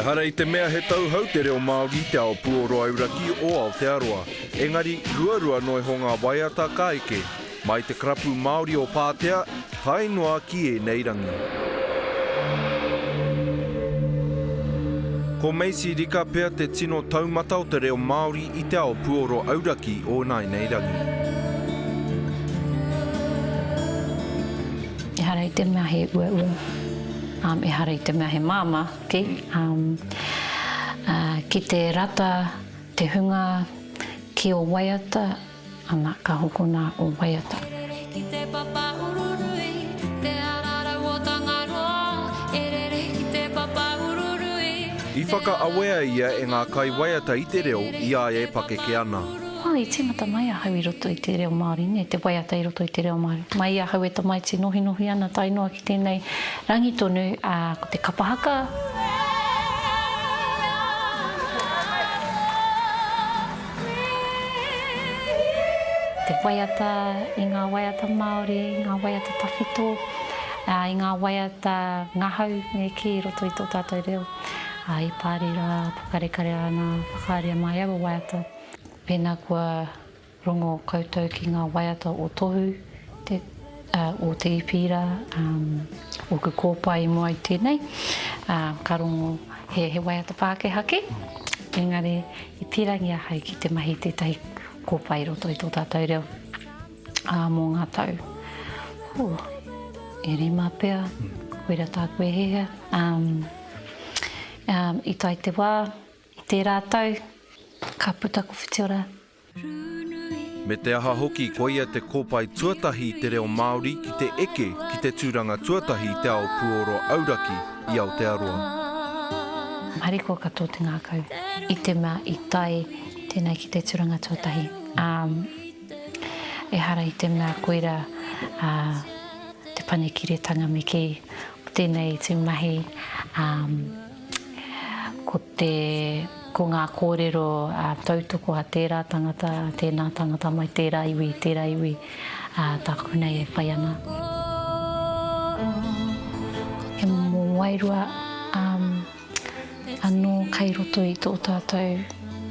Ehara i te mea he tauhou te reo Māori i te ao puoro auraki o Aotearoa, engari ruarua noa iho ngā waiata ka eke, mai te Karapu Māori o Pātea, Tae noa ki ēnei rangi. Ko Macy Rika pea te tino taumata o te reo Māori i te ao puoro auraki o ināinei rangi. Ehara i te mea he uaua, um, ehara i te mea he māmā, ki, um, uh, ki te rata te hunga ki ō waiata. Ana, ka hokona o Waiata. E rere ki te papa ururui, te ara rau o Tangaroa, e rere ki te papa ururui. I whakaawea ia e ngā kaiwaiata i te reo i a ia e pakeke ana. Ā, i tīmata mai ahau i roto i te reo Māori, nē, te waiata i roto i te reo Māori. Mai i ahau e tamaiti nohinohi ana tae noa ki tēnei rangi tonu, ā, ko te kapa haka. Te waiata i ngā waiata Māori, ngā waiata tawhito, i ngā waiata ngahau me kī i roto i tō tātou reo, i pāri rā, pokarekare ana, whakaaria mai aua waiata. Pēnā kua rongo koutou ki ngā waiata o Tohu, te. Ā, o te Ipīra, ā, ōku kōpae i mua i tēnei, ā, ka rongo he, he waiata Pākehā kē, engari i pīrangi ahau ki te mahi i tētahi kōpae i roto i tō tātou reo, ā, mō ngā tau, hū, e rima pea, koira tāku e hihia, ā, ā, i tae te wā, i tērā tau, ka puta ko Whitiora me te aha hoki koia te kōpae tuatahi i te reo Māori ki te eke ki te tūranga tuatahi i te ao puoro auraki i Aotearoa. Harikoa ka tō te ngākau i te mea i tae tēnei ki te tūranga tuatahi, ā, ehara i te mea koira te panekiretanga me kī, ko tēnei te mahi, ā, Ko te, ko ngā kōrero tautoko a tērā tangata, a tēnā tangata mai tērā iwi, tērā iwi, tāku nei e whai ana. He momo wairua anō kei roto i tō tātou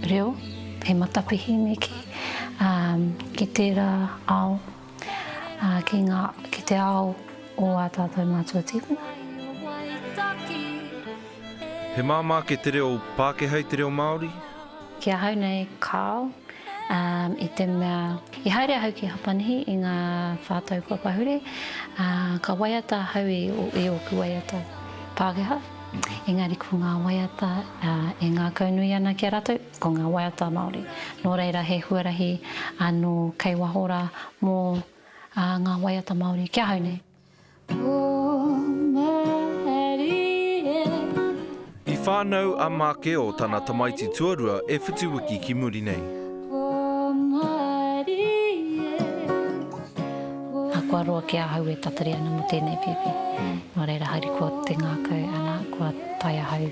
reo, he matapihi neke ki tērā ao ki ngā, ki te ao o ā tātou mātua tīpuna. He māmā kē te reo Pākehā i te reo Māori? Ki ahau nei, kāo, i te mea, i haere ahau ki Hapanihi i ngā whā tau kua pahure, ā, ka waiata ahau i, i ōku waiata Pākehā, engari ko ngā waiata e ngākaunui ana ki a rātou. Ko ngā waiata Māori, nō reira he huarahi anō kei waho rā mō ngā waiata Māori ki ahau nei. I whānau a Mākeo tana tamaiti tuarua e whitu wiki ki muri nei. Ā, kua roa ki ahau e tatari ana mō tēnei pēpi. Nō reira, haere kua te ngākau, ana, kua tae ahau.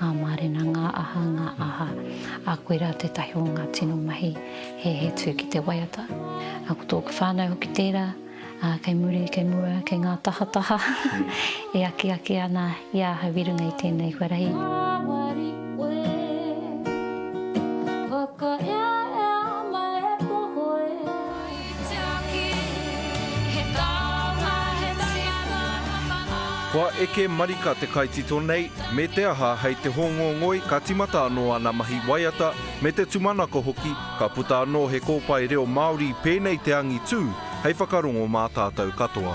Ngā mārena, ngā aha, ngā aha. Ā, koe rā tētahi o ngā tino mahi he, he tū ki te waiata. Ā, ko tōku whānau hoki tērā, ā, kei muri, kei mua, kei ngā tahataha e akiaki ana i a ahau i runga i tēnei huarahi. Kua eke marika te kaitito nei, me te aha hei te hōngongoi ka timata anō ana mahi waiata me te tumanako hoki, ka puta anō he kōpae reo Māori pēnei te angitū hei whakarongo mā tātou katoa.